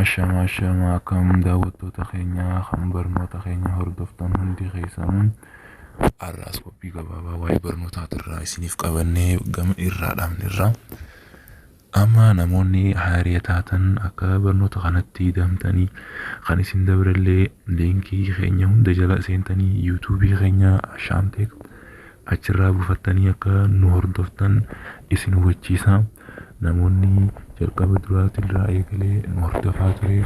Ashamaa ashamaa akkam daawwattoota keenya kan barnoota keenya hordoftan hundi keessanuu har'aas qophii gabaabaa waa'ee barnootaa irraa isiniif qabannee gama irraa dhaabne irraa amma namoonni haaree taatan akka barnoota kanatti damtanii kan isin dabrellee liinkii keenya hunda jala seentanii yuutuubii keenya ashaamteek Achirraa buufattanii akka nu hordoftan isin hubachiisa. Namoonni jalqaba duraatirraa eegalee nu hordofaa ture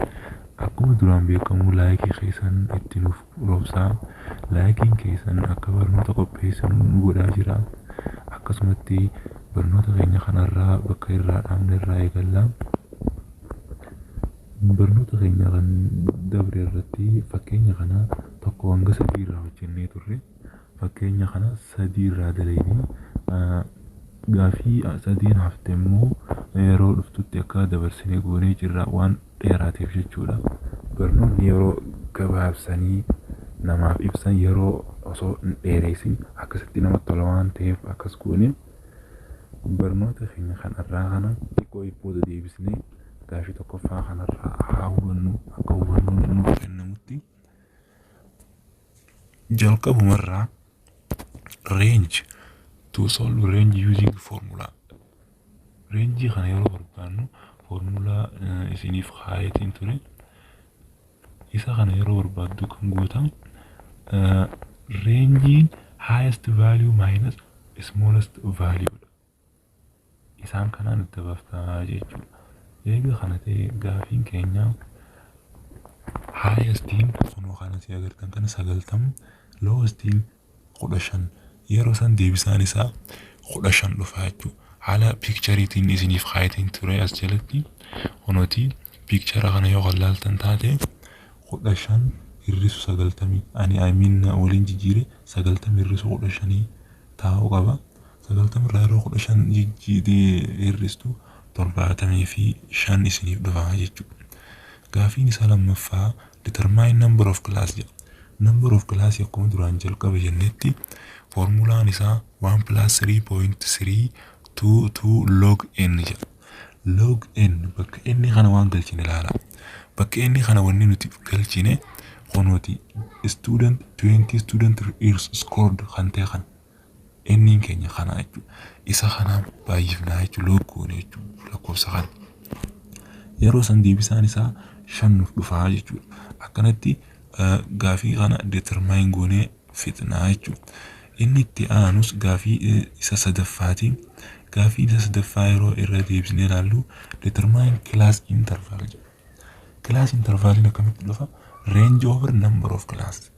akkuma duraan beekamu laayikii keessan itti nuuf roobsaa. Laayikiin keessan akka barnoota qopheessinu nu godhaa jira. Akkasumatti barnoota keenya kanarraa bakka irraa dhaabne irraa eegalla. Barnoota keenya kan dabre irratti fakkeenya kana tokko hanga sadii irraa hojjennee turre. Fakkeenya kana sadii irraa dalagne. Gaafii sadiin hafte immoo yeroo dhuftutti akka dabarsine goonee jirra waan dheeraateef jechuudha. Barnoonni yeroo gabaabsanii namaaf ibsan yeroo osoo hin dheereessin akkasitti namatti tola waan ta'eef akkas goone barnoota keenya kan irraa kana xiqqoo booda deebisnee gaafii tokkoffaa kanarraa haa hubannu akka hubannoon nuuf kennamutti. jalqabumarraa range to solve range using formula reenjii kana yeroo barbaannu foormulaa isiniif kaayetiin ture isa kana yeroo barbaaddu kan gootan reenjiin highest value minus smallest value dha. isaan kanaan adda bafta jechuudha. Eega kana ta'e gaafiin keenya haayestiin kunoo kan asii agartan kana sagaltam loowestiin kudha shan yeroo san deebisaan isaa kudha shan dhufa jechuudha. Haala piikchariitiin isiniif kaayetiin ture as jalatti kunooti piikchara kana yoo kan laaltan taate kudha shan hir'isu sagaltamii ani ayimiin waliin jijjiire sagaltamii hir'isu kudha shanii taa'uu qaba. 90 irraa yeroo 15 jijjiitee hir'istu 75 isiniif dhufa jechuudha. Gaafiin isaa lammaffaa determine number of class jedha. Number of class akkuma duraan jalqaba jennetti foormulaan isaa 1 plus 3.322 log n jedha. Log n bakka n kana waan galchine ilaala. Bakka n kana wanni nuti galchine kunuuti student 20 student years scored kan ta'e kana. Inniin keenya kanaa jechuudha. Isa kanaan baay'ifnaa jechuudha. Loog goone jechuudha lakkoofsa kana. Yeroo san deebisaan isaa shan nuuf dhufaa jechuudha. Akkanatti gaafii kana determine goonee fixnaa jechuudha. Inni itti aanus gaafii isa sadaffaati. Gaafii isa sadaffaa yeroo irra deebisnee ilaallu determine class interval jedha. Class intervalin akkamitti dhufa? Range over number of class.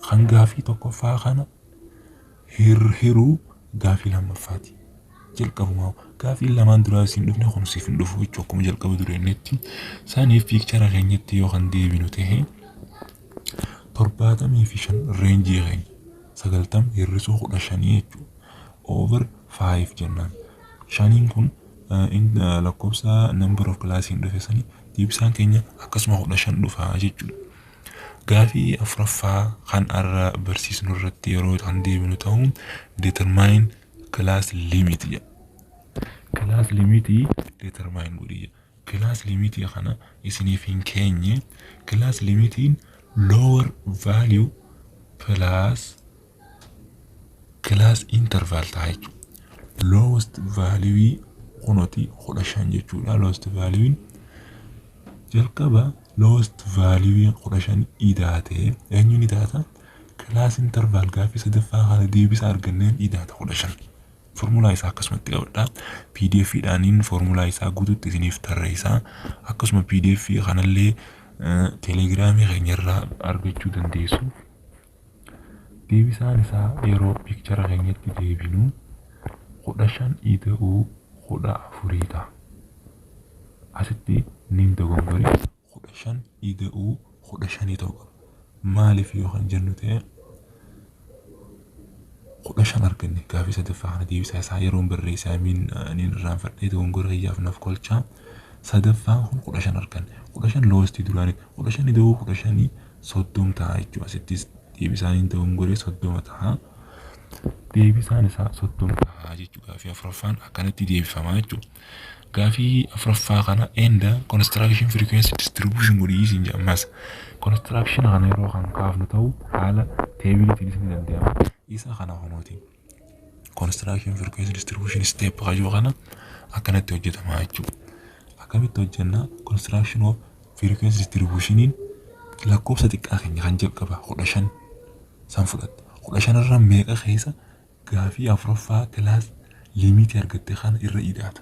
Kan gaafii tokkoffaa kana hir- hiruu gaafii lammaffaati. Jalqabumaa gaafiin lamaan duraa isin dhufne kun siif hin dhufu jechuu akkuma jalqaba dureennetti. Saniif piikchara keenyatti yoo kan deebinu ta'e torbaatamii fi shan reenjii keenya sagaltam hir'isuu kudha shanii jechuudha. Over five jennaan. Shaniin kun in lakkoofsa number of class hin dhufe sani deebisaan keenya akkasuma kudha shan dhufa jechuudha. Gaafii afuraffaa kan arra barsiisnu irratti yeroo kan deebinu ta'u determine class limit jedha. Class limit determine godhi jedha. Class limit kana isiniif hin keenye class limitiin lower value plus class interval ta'a jechuudha. Lowest value kunoti kudha shan jechuudha. Lowest value jalqaba lowest value kudha shan idaate eenyu ni taata? Class interval gaaffii sadaffaa kana deebisa arganneen idaata kudha shan. Formulaa isaa akkasumatti qabadha. PDF dhaaniin formulaa isaa guututti isiniif tarreessa. Akkasuma PDF kanallee telegiraamii keenyarraa argachuu dandeessu. Deebisaan isaa yeroo picture keenyatti deebinu kudha shan ida'uu kudha afurii ta'a. Asitti niin dogongore kudha shan ida'uu kudha shanii ta'uu qaba. Maaliif yoo kan jennu ta'e kudha shan arganne gaafii sadaffaa kana deebisaa isaa yeroon barreesse amiin niin irraanfadhee dogongora kiyyaaf naf kolchaa sadaffaan kun kudha shan arganne kudha shan loostii duraanii kudha shan ida'uu kudha shanii soddom ta'a jechuudha. Asittis deebisaan hin ta'uun godhee soddoma ta'a. Deebisaan isaa soddom ta'a jechuudha. Gaafii afuraffaan akkanatti deebifama jechuudha. Gaafii afuraffaa kana enda construction frequency distribution godhii isin jedhamas. Construction kana yeroo kan kaafnu ta'u haala teebiliitiinis ni danda'ama. Isa kana hunuuti. Construction frequency distribution step kayyoo kana akkanatti hojjetama jechuudha. Akkamitti hojjenna construction of frequency distribution lakkoofsa xiqqaa keenya kan jalqaba kudha shan san fudhatte kudha shan irra meeqa keessa gaafii afuraffaa kilaas limiitii argatte kana irra ida'ata.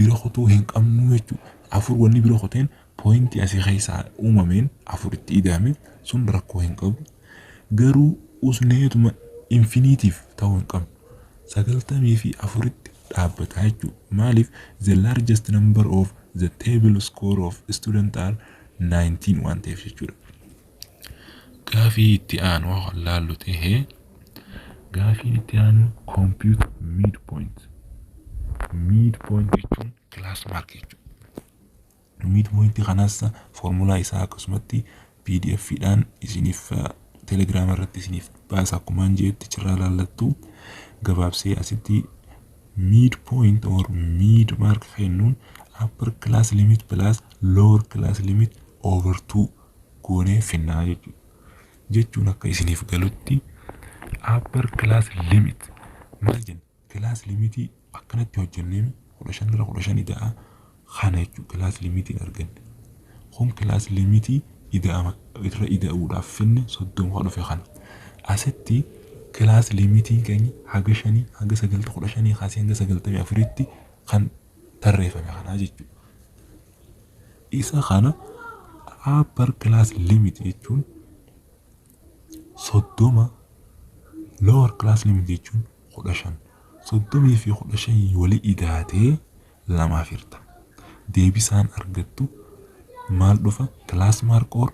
bira kutuu hin qabnuu jechuu afur wanni bira kuteen pointii asii keessaa uumameen afur itti ida'ame sun rakkoo hin qabu garuu usneetuma infiniitiif ta'uu hin qabnu sagaltamii fi afuritti dhaabbataa jechuu maaliif the largest number of the table score of student are 19 waan ta'eef jechuudha. Gaafii itti aanu haa laallu ta'e gaafiin itti aanu compute mid point mid point jechuun class mark jechuudha. Mid point kanas formulaa isaa akkasumatti pdf dhaan isiniif telegram irratti isiniif baasa akkumaan jeetti cirraa laallattu gabaabsee asitti mid point or mid mark kennuun upper class limit plus lower class limit over 2 goonee finnaa jechuudha. Jechuun akka isiniif galutti upper class limit maal jenna? Class limitii akkanatti hojjennee kudha shan irra kudha shan ida'a kana jechuudha class limitiin arganne. Kun class limitii ida'ama irra ida'uudhaaf finne soddoma kan dhufe kana. Asitti class limitiin keenya haga shanii haga sagalta kudha shanii kaasee hanga sagaltamii afuritti kan tarreeffame kanaa jechuudha. Isa kana upper class limit jechuun soddoma lower class limit jechuun kudha shan soddomii fi kudha shan wali idaatee lamaaf hirta. Deebisaan argattu maal dhufa class mark or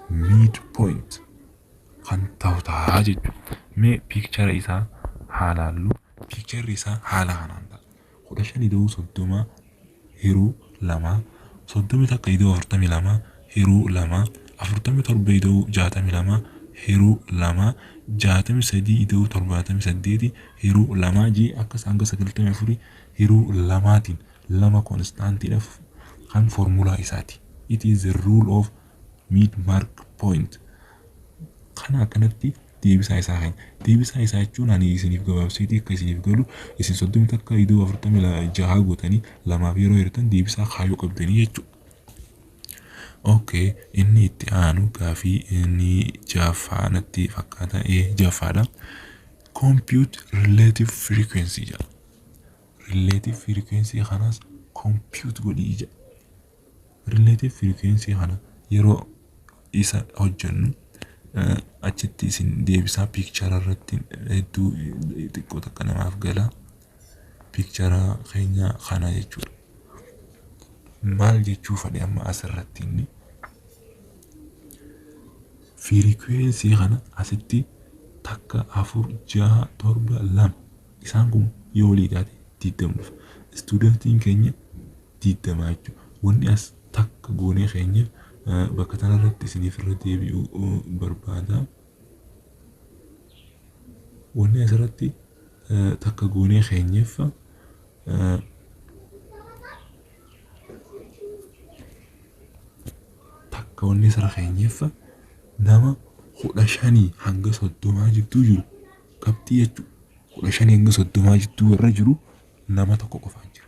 mid point kan ta'u ta'a jechuudha. Mee piikchara isaa haa laallu. Piikcharri isaa haala kanaan ta'a. kudha shan ida'uu soddoma hiruu lama, soddomii takka ida'uu afurtamii lama hiruu lama, afurtamii torba ida'uu jaatamii lama hiruu lama, jaatamii sadii ida'uu torbaatamii saddeeti hiruu lama jee akkas hanga sagaltamii afurii hiruu lamaatiin lama konstaantiidhaaf kan foormulaa isaati. It is the rule of mid mark point kana akkanatti deebisaa isaa keenya deebisaa isaa jechuun ani isiniif gabaabseetii akka isiniif galu isin soddomi takka idoo afurtami jahaa gootanii lamaaf yeroo hirtan deebisaa kaayuu qabdanii jechuu Okay, inni itti aanu gaafii inni jaffaa natti fakkaata ee jaffaadha. Compute relative frequency jedha. Relative frequency kanas compute godhii jedha. Relative frequency kana yeroo isa hojjennu achitti isin deebisaa piikchara irratti hedduu xiqqoo takka namaaf gala. Piikchara keenya kana jechuudha. Maal jechuu fedhe amma asirratti inni? Fiirikuweensii kana asitti takka afur jaha torba lama isaan kun yoo walii taate digdama dhufa. Istuudantiin keenya 20 jechu wonni as takka goonee keenya bakka tana irratti isiniif irra deebi'u barbaada wonni as irratti takka goonee keenyeef takka wonni as irra keenyeef nama kudha shanii hanga soddomaa jidduu jiru qabxii jechu kudha shanii hanga soddomaa jidduu warra jiru nama tokko qofaan jira.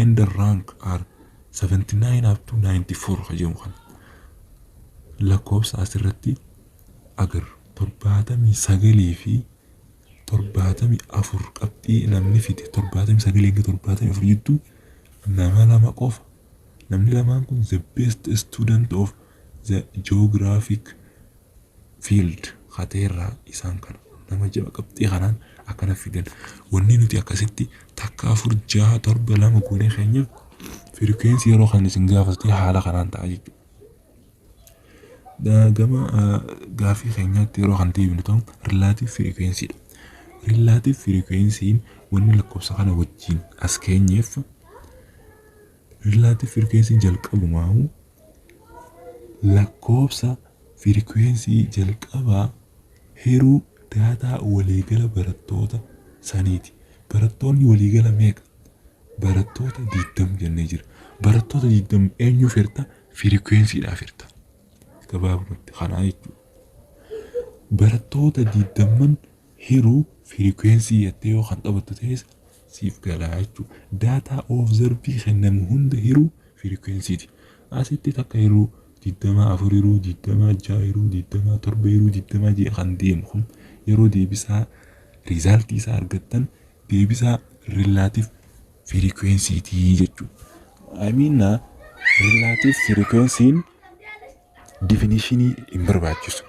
and the rank are 79 up to 94 ka jedhu kana lakkoofsa asirratti agarru torbaatamii sagalii fi torbaatamii afur qabxii namni fide torbaatamii sagalii hanga torbaatamii afur jidduu nama lama qofa namni lamaan kun the best student of the geographic field kateerraa isaan kana nama jaba qabxii kanaan akkana fidan wanni nuti akkasitti takka afur jaha torba lama goonee keenya firikweensii yeroo kan isin gaafatee haala kanaan ta'a jechuudha. Gama gaafii keenyaatti yeroo kan deebinu ta'u rilaatiif firikweensii dha. Rilaatiif firikweensiin wanni lakkoofsa kana wajjin as keenyeef Riilaatif firikweensii jalqabumaahu lakkoofsa firikweensii jalqabaa hiruu daataa waliigala barattoota saniiti. Barattoonni waliigala meeqa? Barattoota 20 jennee jira. Barattoota 20 eenyuuf hirta? Firikweensiidhaaf hirta. Gabaabumatti kanaa jechuudha. Barattoota 20 hiruu firikwensii jettee yoo kan taphattu ta'es siif galaa jechuu data observe kennamu hunda hiruu frequency ti asitti takka hiruu digdama afur hiruu digdama ja'a hiruu digdama torba hiruu digdama jee kan deemu kun yeroo deebisaa result isaa argattan deebisaa relative frequency ti jechuu I mean na relative frequency definition hin barbaachisu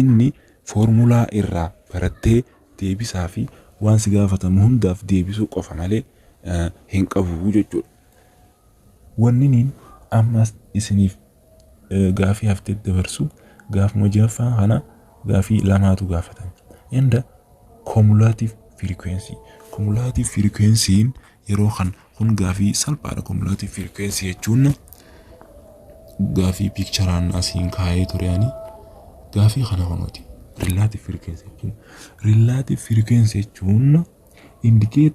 inni formulaa irraa barattee deebisaa fi waan si gaafatamu hundaaf deebisuu qofa malee hin qabu jechuudha. Wanniniin ammas isiniif gaafii hafte dabarsu gaafuma jahaffaa kana gaafii lamaatu gaafatame. Enda cumulative frequency. Cumulative frequency'n yeroo kan kun gaafii salphaadha kumulaatii firikweensii jechuun gaafii piikcharaan asiin kaa'ee ture ani gaafii kana kunuuti rillaatiif firikweensii jechuun rillaatiif firikweensii jechuun indikeet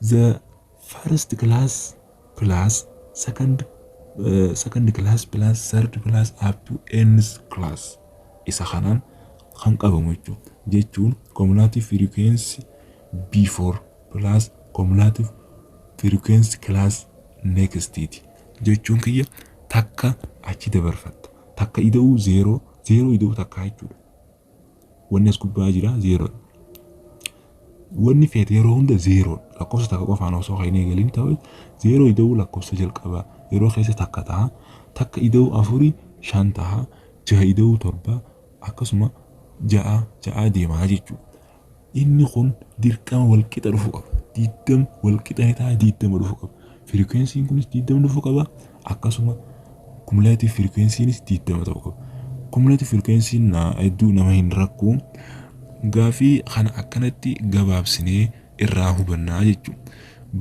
the first class plus second uh, second class plus third class up to nth class isa kanaan kan qabamu jechuudha jechuun kumulaatii firikweensii before plus cumulative frequency class next ti. jechuun kiyya takka achi dabarfatta. Takka ida'uu zeeroo, zeeroo ida'uu takkaa jechuudha. Wanni as gubbaa jira zeeroodha. Wanni feete yeroo hunda zeeroodha. Lakkoofsa takka qofaan osoo kan hin eegalin ta'e zeeroo ida'uu lakkoofsa jalqabaa yeroo keessa takka taha. Takka ida'uu afurii shan taha. Jaha ida'uu torba akkasuma ja'a ja'a deemaa jechuudha. Inni kun dirqama wal qixa dhufu qaba. Diddam wal qixa ni ta'a diddama dhufu qaba. Firikwensiin kunis diddama dhufu qaba akkasuma kumulaatiif firikwensiinis diddama ta'u qaba. Kumulaatiif firikwensiin na hedduu nama hin rakku. Gaafii kana akkanatti gabaabsinee irraa hubannaa jechuudha.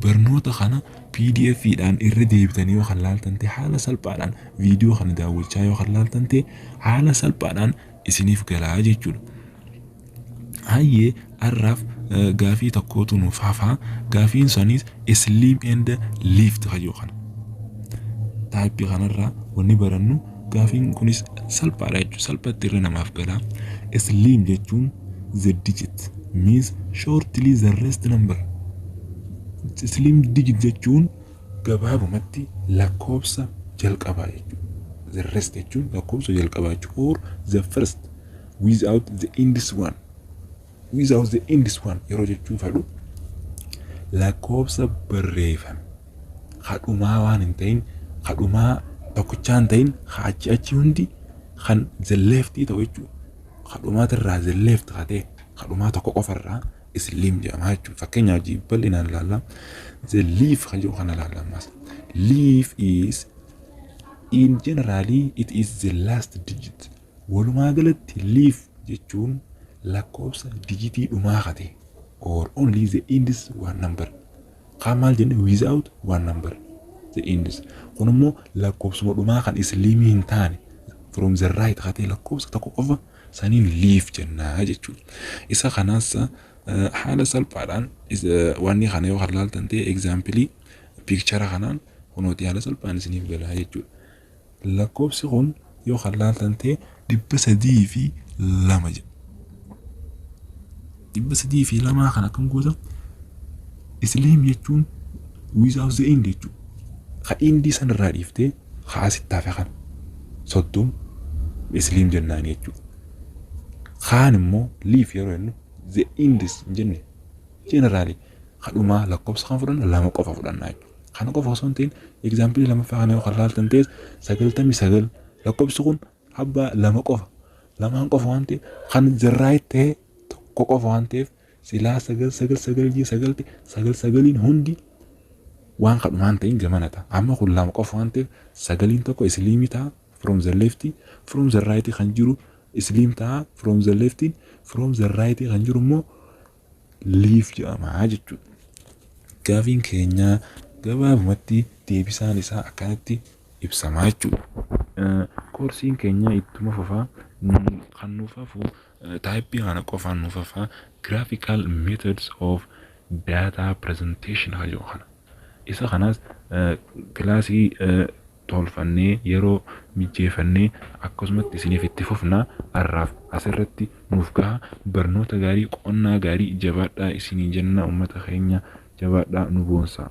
Barnoota kana pdf dhaan irra deebitanii yoo kan laaltan ta'e haala salphaadhaan viidiyoo kana daawwachaa yoo kan laaltan ta'e haala salphaadhaan isinif galaa jechudha. Hayyee arraaf gaafii tokkootu nuuf hafa gaafiin sanis slim and lift kayyoo kana taayipii kanarraa wanni barannu gaafiin kunis salphaadha jechuudha salphatti irra namaaf gala slim jechuun the digit means shortly the rest number slim digit jechuun Gabaabumatti lakkoofsa jalqabaa jechuudha. The rest jechuun lakkoofsa jalqabaa jechuudha. Or the first without the ends one. Without the ends one yeroo jechuu fedhu lakkoofsa barreeffame kadhumaa waan hin ta'in kadhumaa tokkichaa hin ta'in achi achi hundi kan the left ta'u jechuudha. Kadhumaatirraa the left hatee kadhumaa tokko qofarraa Slim jedhama jechuudha. Fakkeenyaaf hojii bal'inaan ilaalla. The leaf kan jedhu kana ilaalla ammas. Leaf is in generally it is the last digit. Walumaa galatti leaf jechuun lakkoofsa dijitii dhumaa kate or only the index one number. Kaan maal jenne without one number. The index. Kun immoo lakkoofsuma dhumaa kan isliimii hin taane from the right katee lakkoofsa tokko qofa saniin liif jenna jechuudha. Isa kanas haala salphaadhaan wanni kana yoo kan laaltan ta'e egzaampilii piikchara kanaan kunooti haala salphaan isiniif galaa jechuudha. Lakkoofsi kun yoo kan laaltan ta'e dhibba sadii fi lama jedha. dhibba sadii fi lamaa kan akkam goota isliim jechuun without the end jechuudha. Ka indii san irraa dhiiftee ka asitti hafe kana soddom isliim jennaan jechuudha. Kaan immoo liif yeroo jennu the ends hin jenne generally ka dhumaa lakkoofsa kan fudhanna lama qofa fudhanna jechuudha. Kana qofa osoo hin ta'in egzaampilii lamaffaa kana yoo kan laaltan ta'es sagaltamii sagal lakkoofsi kun abbaa lama qofa lamaan qofa waan ta'eef kan the right ta'e tokko qofa waan ta'eef silaa sagal sagal sagal jee sagalti sagal sagaliin hundi waan kadhumaan ta'in gamana ta'a amma kun lama qofa waan ta'eef sagaliin tokko isliimii ta'a from the left from the right kan jiru isliim ta'a from the left from the right kan jiru immoo liif jedhama jechuudha. Gaafiin keenya gabaabumatti deebisaan isaa akkanatti ibsamaa jechuudha. Koorsiin keenya ittuma fufaa kan nuuf hafu Type kana qofaan nuuf hafaa graphical methods of data presentation kan jedhu kana. Isa kanas kilaasii tolfannee yeroo mijjeefannee akkasumatti isiniif itti fufna har'aaf asirratti nuuf gaha barnoota gaarii qonnaa gaarii jabaadhaa isiniin jenna uummata keenya jabaadhaa nu boonsaa.